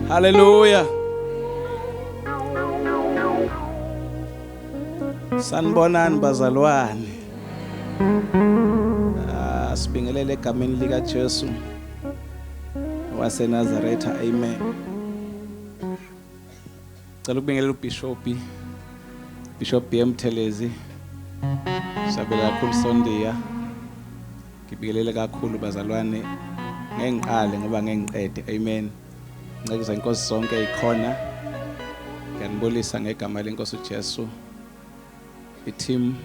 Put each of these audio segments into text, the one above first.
Hallelujah. Sanibonani bazalwane. Ah, sibingelele egameni lika Jesu waseNazaretha. Amen. Cela ukubingelela uBishop Bishop BM Thelezi. Sabela kakhulu Sondiya. Ngibingelele kakhulu bazalwane. Ngeke ngiqale ngoba ngeke ngiqede. Amen. Nceku inkosi sonke ikhona. Ngiyanibulisa ngegama lenkosi uJesu. I-team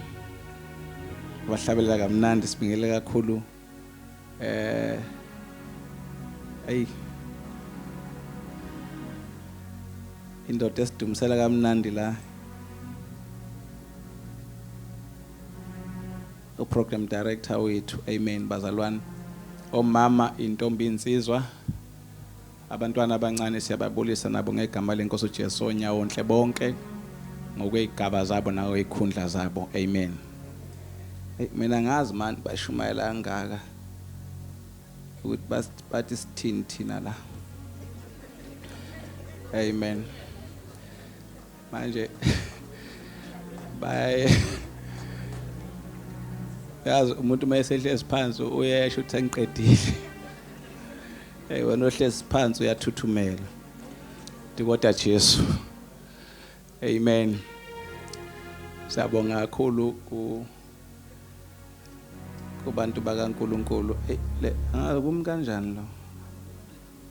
bahlabelela kamnandi sibingelele kakhulu Eh ayi indoda esidumisela kamnandi la uprogram director wethu amen bazalwane omama intombi insizwa Abantwana abancane siyababulisa nabo ngegama lenkosi uJesu onyawonhle bonke ngokwezigaba zabo nawo ikhundla zabo amen hey mina ngazi manje bashumayela kangaka ukuthi bathi sithini thina la amen manje baye yazi umuntu uma esehlezi phansi uyesho ukuthi sengiqedile hey wena ohlezi phansi uyathuthumela ndikoda Jesu amen siyabonga kakhulu ku kubantu bakaNkuluNkulu hey le ah, kum kanjani lo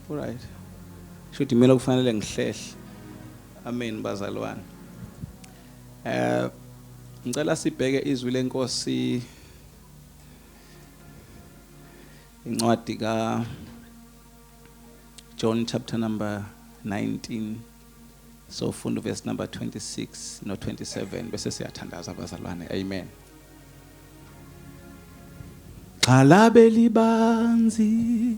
Alright. Shuthi mina kufanele ngihlehle. Amen bazalwane. Eh ngicela sibheke izwi lenkosi incwadi ka John chapter number 19 so funda verse number 26 no 27 bese siyathandaza abazalwane amen Xalabe libanzi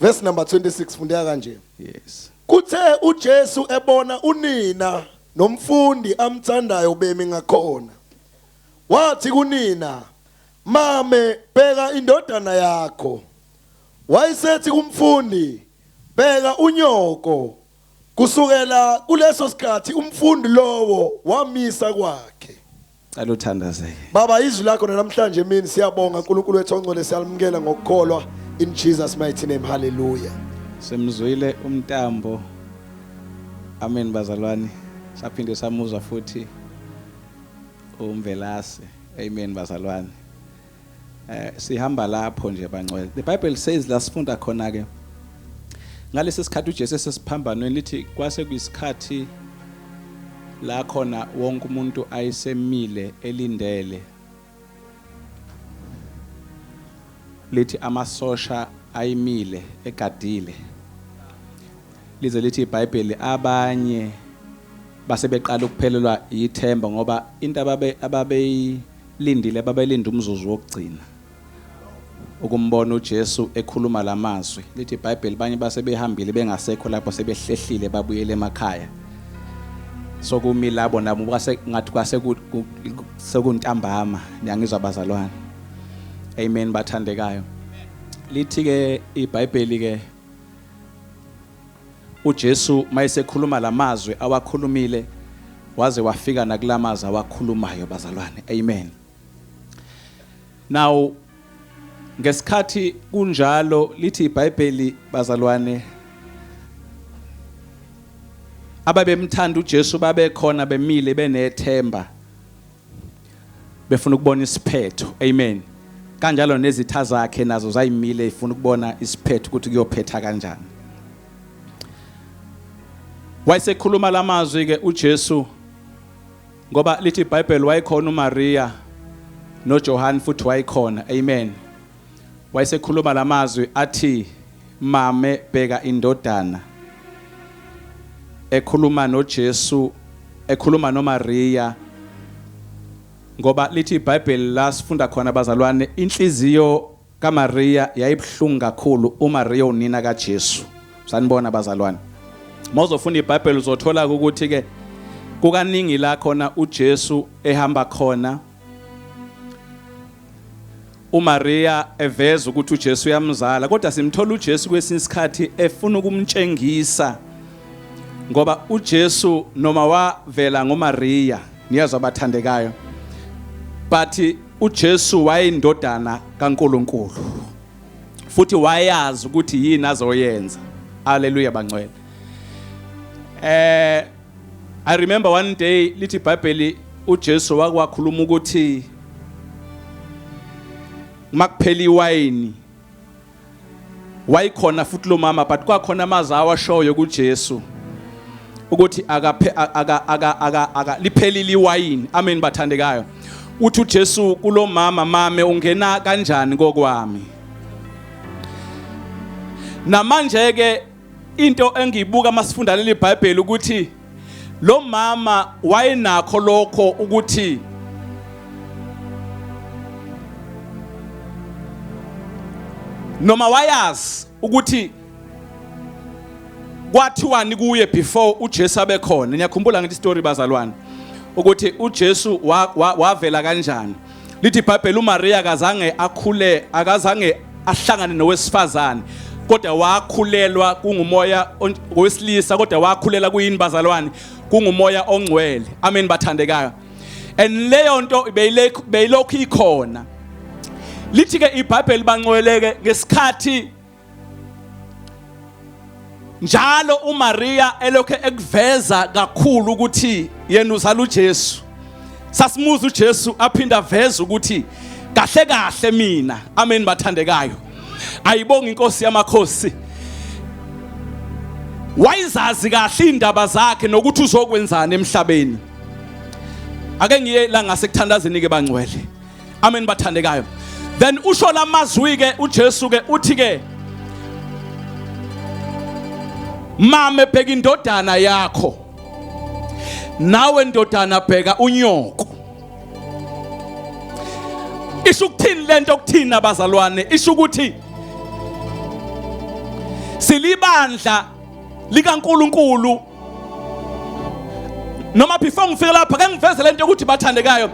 Verse number 26 fundeka kanje. Yes. Kuthe uJesu ebona unina nomfundi amthandayo bemi ngakhona. Wathi kunina, "Mame, bheka indodana yakho." Wayesethi kumfundi, "Bheka unyoko Kusukela kuleso sikhathi umfundi lowo wamisa kwakhe. Cela uthandazeke. Baba izwi lakho namhlanje emini siyabonga uNkulunkulu wethu ongcwele siyalimukela ngokukholwa in Jesus mighty name hallelujah. Semzwile umtambo. Amen bazalwane. Saphinde samuzwa futhi umvelase. Amen bazalwane. Eh sihamba lapho nje bangcwele. The Bible says la sifunda khona ke. Ngalesi sikhathi uJesu esesiphambanweni lithi kwase kuyisikhathi la khona wonke umuntu ayisemile elindele. Lithi amasosha ayimile egadile. Lize lithi iBhayibheli abanye base beqala ukuphelelwa yithemba ngoba into ababe ababeyi Lindile babelinde umzuzu wokugcina ukumbona uJesu ekhuluma lamazwi. Lithi iBhayibheli banye base behambile bengasekho lapho sebehlehlile babuyele emakhaya. Sokumi labo nabo kwase ngathi kwase sekuntambama niyangizwa bazalwane. Amen bathandekayo. Lithi ke iBhayibheli ke UJesu mayesekhuluma lamazwi awakhulumile waze wafika nakulamazi awakhulumayo bazalwane. Amen. Now ngesikhathi kunjalo lithi iBhayibheli bazalwane ababemthanda uJesu babekhona bemile benethemba befuna ukubona isiphetho amen kanjalo nezitha zakhe nazo zayimile ifuna ukubona isiphetho ukuthi kuyophetha kanjani wayesekhuluma lamazwi ke uJesu ngoba lithi iBhayibheli wayekhona uMaria noJohane futhi wayekhona amen Wayesekhuluma la mazwi athi, Mame, bheka indodana. Ekhuluma noJesu, ekhuluma noMariya. Ngoba lithi iBhayibheli la sifunda khona bazalwane, inhliziyo kaMariya yayibuhlungu kakhulu uMariya unina kaJesu. Sanibona bazalwane. Mawuzofunda iBhayibheli uzothola ukuthi ke kukaningi la khona uJesu ehamba khona uMaria eveza ukuthi uJesu uyamzala kodwa simthola uJesu kwesinye isikhathi efuna ukumtshengisa ngoba uJesu noma wavela ngoMaria niyazwa abathandekayo but uJesu wayindodana kaNkuluNkulu futhi wayazi ukuthi yini azoyenza haleluya bangcwele eh I remember one day lithi iBhayibheli uJesu wakwakhuluma ukuthi makuphela iwayini wayikhona futhi lo mama but kwakhona amazi awashoyo kuJesu ukuthi akaphe aka aka aka aka liphelile iwayini amen bathandekayo uthi uJesu kulomama mame ungena kanjani kokwami namanje ke into engiyibuka masifunda leli Bible ukuthi lo mama wayenakho lokho ukuthi noma wayazi ukuthi kwathiwani kuye before uJesu abe khona niyakhumbula ngithi story bazalwane ukuthi uJesu wavela kanjani Lithi iBhayibheli uMariya akazange akhule akazange ahlangane nowesifazane kodwa wakhulelwa kungumoya owesilisa kodwa wakhulela kuyini bazalwane kungumoya ongcwele amen bathandekayo and leyo nto beyilokhu ikhona lithi ke iBhayibheli bangcweleke ngesikhathi njalo uMaria elokhe ekuveza kakhulu ukuthi yena uzala uJesu sasimuza uJesu aphinda veza ukuthi kahle kahle mina amen bathandekayo ayibonga inkosi yamakhosi wayizazi kahle indaba zakhe nokuthi uzokwenzani emhlabeni ake ngiye la ngasekuthandazeni ke bangcwele amen bathandekayo then usho lamazwi ke uJesu ke uthi ke mame bheka indodana yakho nawe ndodana bheka unyoko isho ukuthini lento okuthina bazalwane isho ukuthi silibandla likaNkuluNkulu noma before ngifike lapha ke ngiveze lento ukuthi bathandekayo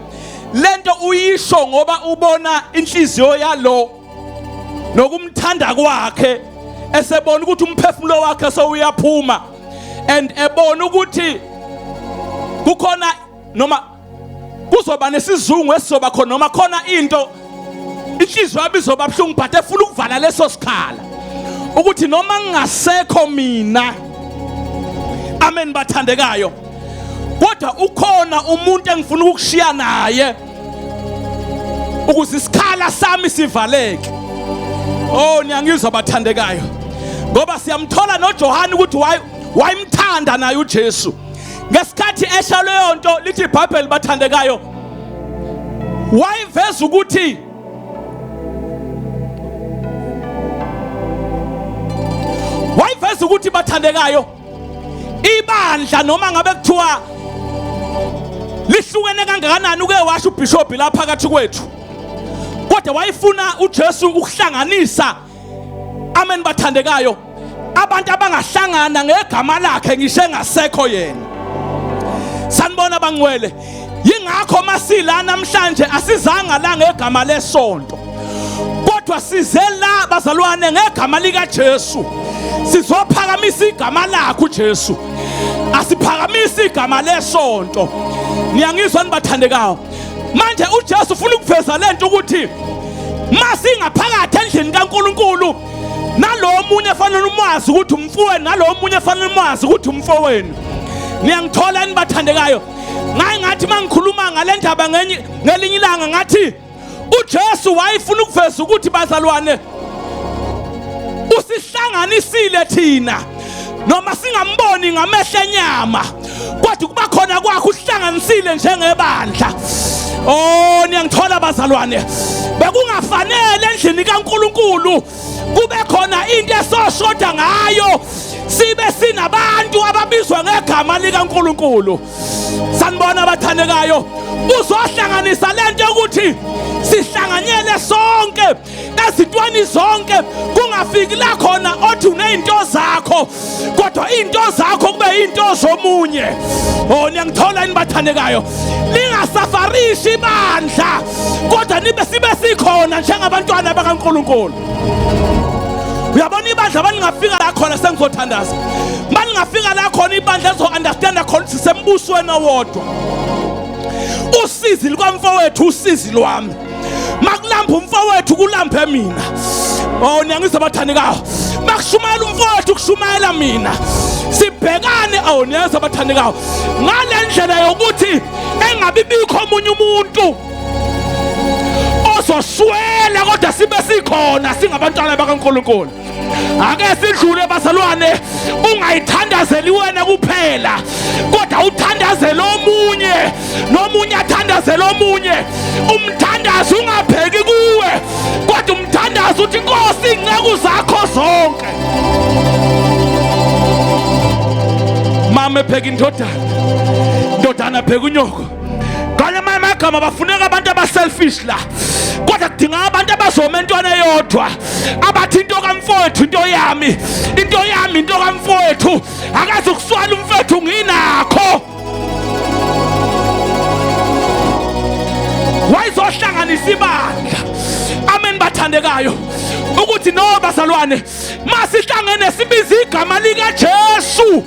lento uyisho ngoba ubona inhliziyo yalo nokumthanda kwakhe esebona ukuthi umphefumulo wakhe sowuyaphuma and ebona ukuthi kukhona noma kuzoba nesizungu esizoba khona noma khona into inhliziyo yami izoba buhlungu but efuna ukuvala leso sikhala ukuthi noma ngingasekho mina amen bathandekayo kodwa ukhona umuntu engifuna ukushiya naye ukuze isikhala sami sivaleke oh niyangizwa bathandekayo ngoba siyamthola noJohane ukuthi wayemthanda naye uJesu ngesikhathi esha leyo nto lithi iBhayibheli bathandekayo wayiveza ukuthi wayiveza ukuthi bathandekayo ibandla noma ngabe kuthiwa lihlukene kangakanani uke washo ubishop la phakathi kwethu kodwa wayefuna uJesu ukuhlanganisa amen bathandekayo abantu abangahlangana ngegama lakhe ngisho engasekho yena sanibona bangcwele yingakho masila namhlanje asizanga la ngegama lesonto kodwa size la bazalwane ngegama lika Jesu sizophakamisa igama lakhe uJesu asiphakamisa igama lesonto niyangizwa nibathandekayo manje uJesu ufuna ukuveza lento ukuthi masingaphakathi endlini kaNkuluNkulu nalowo munye efanele umwazi ukuthi umfowenu nalowo munye efanele umwazi ukuthi umfowenu niyangithola enibathandekayo ngaye ngathi mangikhuluma ngale ndaba ngelinye ilanga ngathi uJesu wayefuna ukuveza ukuthi bazalwane usihlanganisile thina noma singamboni ngamehlo enyama kodwa kuba khona kwakho uhlanganisile njengebandla oh niyangithola bazalwane bekungafanele endlini kaNkuluNkulu kube khona into esoshoda ngayo sibe sinabantu ababizwa ngegama likaNkuluNkulu sanibona abathandekayo uzohlanganisa lento yokuthi sihlanganyele sonke ezintweni zonke kungafiki la khona othi unezinto zakho kodwa izinto zakho kube izinto zomunye oh niyangithola yini bathandekayo ningasafarishi ibandla kodwa nibe sibe sikhona njengabantwana bakaNkuluNkulu uyabona ibandla balingafika la khona sengizothandaza balingafika la khona ibandla lizo-understanda khona ukuthi sembusweni owodwa usizi lukamfowethu usizi lwami makulamba umfowethu kulambe mina oh niyangizwa abathandekayo makushumayela umfowethu kushumayela mina sibhekane awu niyazwa abathandekayo ngale ndlela yokuthi engabi bikho omunye umuntu ozoswela kodwa sibe sikhona singabantwana bakaNkuluNkulu ake sidlule bazalwane ungayithandazeli wena kuphela kodwa uthandazele omunye nomunye athandazele omunye umthandazi ungabheki kuwe kodwa umthandazi uthi inkosi iy'nceku zakho zonke mama ebheka indodana indodana bheka unyoko ngale mama agama bafuneka abantu abaselfish la kodwa kudinga abantu abazoma entwana eyodwa abathi into kamfowethu into yami into yami into kamfowethu akaze ukuswala umfowethu nginakho wayizohlanganisa ibandla amen bathandekayo ukuthi no bazalwane masihlangene sibize igama lika Jesu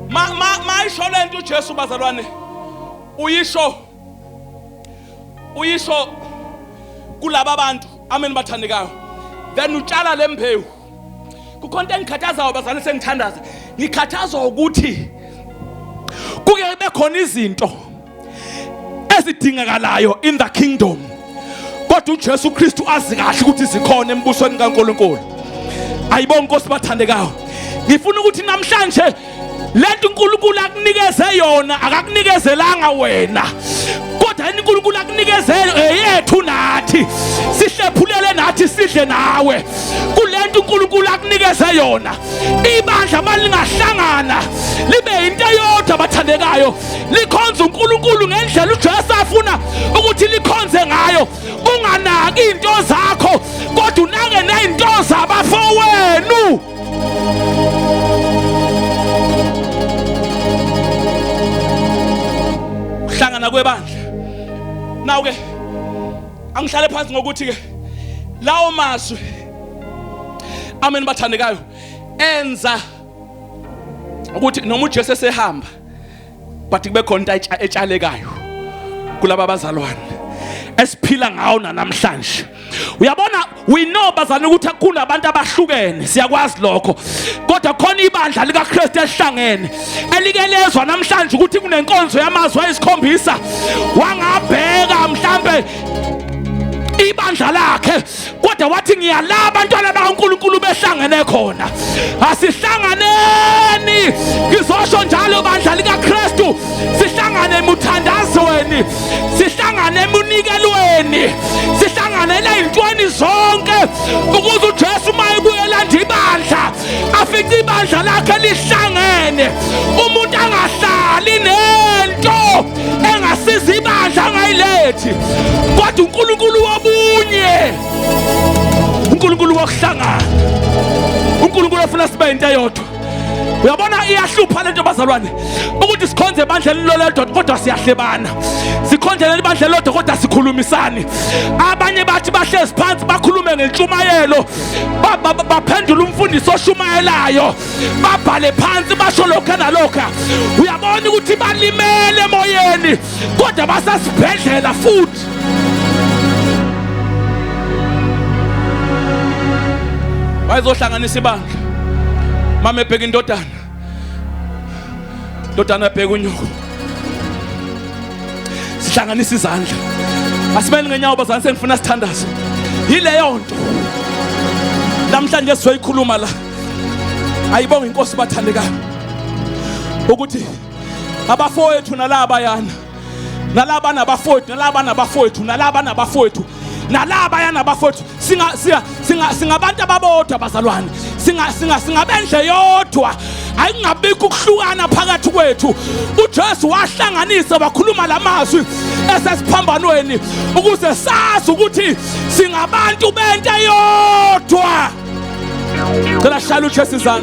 ma ma mayisho lento uJesu bazalwane uyisho uyisho kulaba bantu amen bathandekayo then utshala lembewu kukhonto engikhathazayo bazalwane sengithandaza ngikhathazwa ukuthi kuke bekhona izinto ezidingakalayo in the kingdom kodwa uJesu Kristu azi kahle ukuthi zikhona embusweni kaNkuluNkulu ayibonke inkosi bathandekayo ngifuna ukuthi namhlanje lento uNkulunkulu akunikeze yona akakunikezelanga wena kodwa yini uNkulunkulu akunikeze eyethu nathi sihlephulele nathi sidle nawe kulento uNkulunkulu akunikeze yona ibandla malingahlangana libe into eyodwa abathandekayo likhonza uNkulunkulu ngendlela uJesu afuna ukuthi likhonze ngayo unganaki into zakho kodwa unake nezinto zabafowenu ukuhlangana kwebandla nawu ke angihlale phansi ngokuthi ke lawo mazwi amen bathandekayo enza ukuthi noma uJesu esehamba but kube khona into etshalekayo kulaba bazalwane esiphila ngawo nanamhlanje uyabona we know bazana ukuthi kunabantu abahlukene siyakwazi lokho kodwa khona ibandla likaKristu elihlangene elike lezwa namhlanje ukuthi kunenkonzo yamazwi ayisikhombisa wangabheka mhlambe ibandla lakhe kodwa wathi ngiyala abantwana bakaNkulunkulu behlangene khona asihlanganeni ngizosho njalo bandla likaKristu sihlangane emuthandazweni sihlangane emunikelweni sihlanganela izintweni zonke ukuze uJesu uma ebuyela nje ibandla afice ibandla lakhe lihlangene umuntu angahlali nento engasiza ibandla angayilethi kodwa uNkulunkulu wobunye uNkulunkulu wokuhlangana uNkulunkulu ofuna sibe into eyodwa uyabona iyahlupha lento bazalwane ukuthi sikhonze ebandla elilolodwa kodwa siyahlebana sikhonze leli bandla elilodwa kodwa sikhulumisani abanye bathi bahlezi phansi bakhulume ngentshumayelo baphendula umfundisi oshumayelayo babhale phansi basho lokho nalokho uyabona ukuthi balimele emoyeni kodwa basasibhedlela futhi bayizohlanganisa ibandla mama ebheka indodana ndodana bheka unyoko sihlanganisa izandla asimele ngenyawo bazane sengifuna sithandazo yileyo nto namhlanje sizoyikhuluma la ayibonga inkosi bathandekayo ukuthi abafowethu nalaba yana nalaba nabafowethu nalaba nabafowethu nalaba nabafowethu nalaba yanabafowethu singa singa singa singabantu ababodwa bazalwane singa singa singabendle yodwa ayingabikho ukuhlukana phakathi kwethu uJesu wahlanganisa wakhuluma lamazwi esesiphambanweni ukuze sazi ukuthi singabantu bento yodwa Cela shalu chesizana